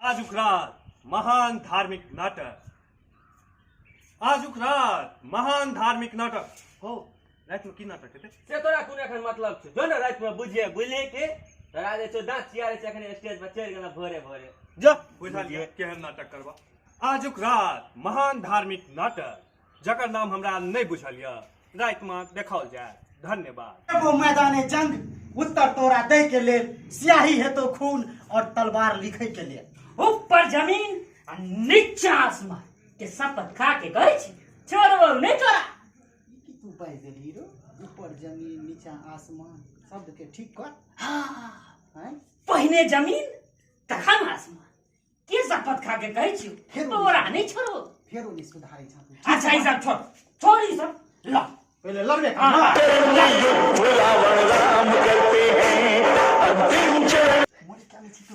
आजुक रात महान धार्मिक नाटक आजुक रात महान धार्मिक नाटक हो रात में की नाटक हेतै से तोरा कोन एखन मतलब छै जो ने रात में बुझे बुझले के तोरा जे छौ दांत चियारे छै एखन स्टेज पर चढ़ि गेला भोरे भोरे जो बुझा लिअ केहन नाटक करबा आजुक रात महान धार्मिक नाटक जकर नाम हमरा नहि बुझल यऽ रात में देखाओल जाय धन्यवाद एगो मैदान जंग उत्तर तोरा दे के लिए स्याही हेतो खून और तलवार लिखे के लिए ऊपर जमीन और नीचा आसमान के शपथ खा के कहै छी छोड़बो नहि तोरा ई की तू बाजि देलही रो ऊपर जमीन नीचा आसमान शब्द के ठीक कर हैं पहिने जमीन तखन आसमान के शपथ खा के कहै छियो हे बाबा। तोरा नहि छोड़ो फेर ओने सुधारै छ तू अच्छा ई सब छोड़ छोड़ ई सब ल पहिले लड़बे कर हाँ। रावण राम करते हैं अब दिन चढ़ मोरे क्या में छी तू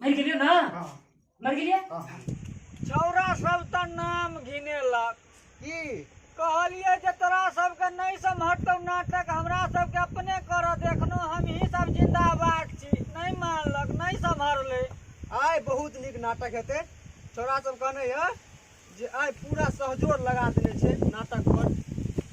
मरि गेलियो ना हाँ मर गेलिए हाँ छौरा सब तऽ नाम घिनेलक की कहलिए जे तोरा सबके नहि सम्हरतौ नाटक हमरा सबके अपने कर देखनो हमही सब जिंदाबाद छी नहि मानलक नहि सम्हरले आय बहुत नीक नाटक हेतै छोरा सब कहने यऽ जे आइ पूरा सहजोर लगा देने छै नाटक पर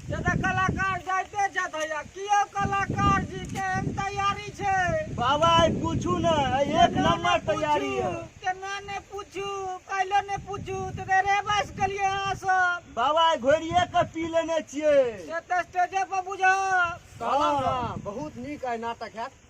से तऽ कलाकार जाइते छथि भैया कियो कलाकार जी के एहन तैयारी छै बाबा आइ पूछू ने आइ एक केना ने नंबर तैयारी पूछू, है केना ने पूछू पहिले ने पूछू तऽ देर रे बस गेलियै अहाँ सब बाबा आइ घोड़िए के पी लेने छियै से तऽ स्टेजे पर बुझब कहलहुँ ने बहुत नीक आइ नाटक हैत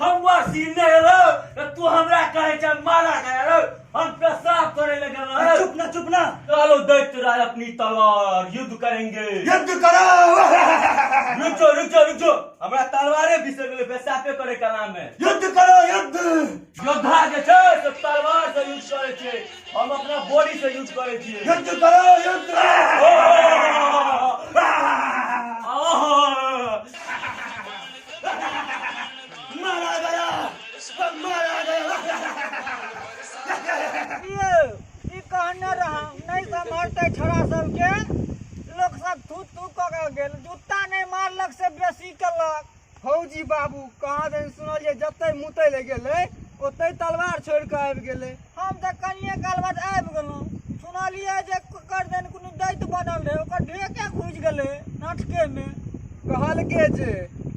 हम वासी नहीं रहो तो तू हमरा कहे छ मारा गया रहो हम पेशाब करे लगे रहो चुप ना चुप ना चलो दैत्य राज अपनी तलवार युद्ध करेंगे युद्ध करो रुचो रुचो रुचो हमरा तलवारे बिसर गेले पेशाबे करे के नाम में युद्ध करो युद्ध योद्धा जे छै से तलवार से युद्ध करे छै हम अपना बॉडी से यूज करे छी युद्ध करो युद्ध मारा गया सब मारा गया ये ई कहने रहा नहीं समझते छोरा सबके लोक सब थू थू कऽ के गेल जूता नहि मारलक से बेसी केलक फौजी बाबू कहाँ दिन सुनलिए जतै मुतै ले गेलै ओतै तलवार छोड़ के आबि गेलै हम तऽ कनिए काल बाद आबि गेलहुँ सुनलिए जे कर दिन कोनो दैत बनल रहै ओकर ढेके घुसि गेलै नाटकेमे कहलकै जे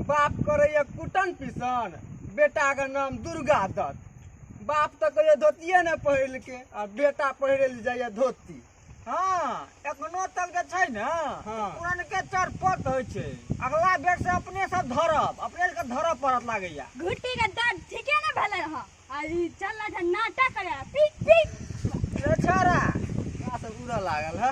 बाप करैए कुटन पिसन बेटाके नाम दुर्गा दत्त बाप तऽ कहियो धोतिए नहि पहिरलकै आ बेटा पहिरे लए जाइए धोती हाँ एखनो तक जे छै ने हाँ। पुरनके चरपत होइ छै अगला बेर से अपने सब धरब अपने के धरब पड़त लागैया घुट्टी के दर्द ठीके ने भेले ह अरे चल ना जा नाटक करे पीट पीट रे छारा का सब उड़ा लागल है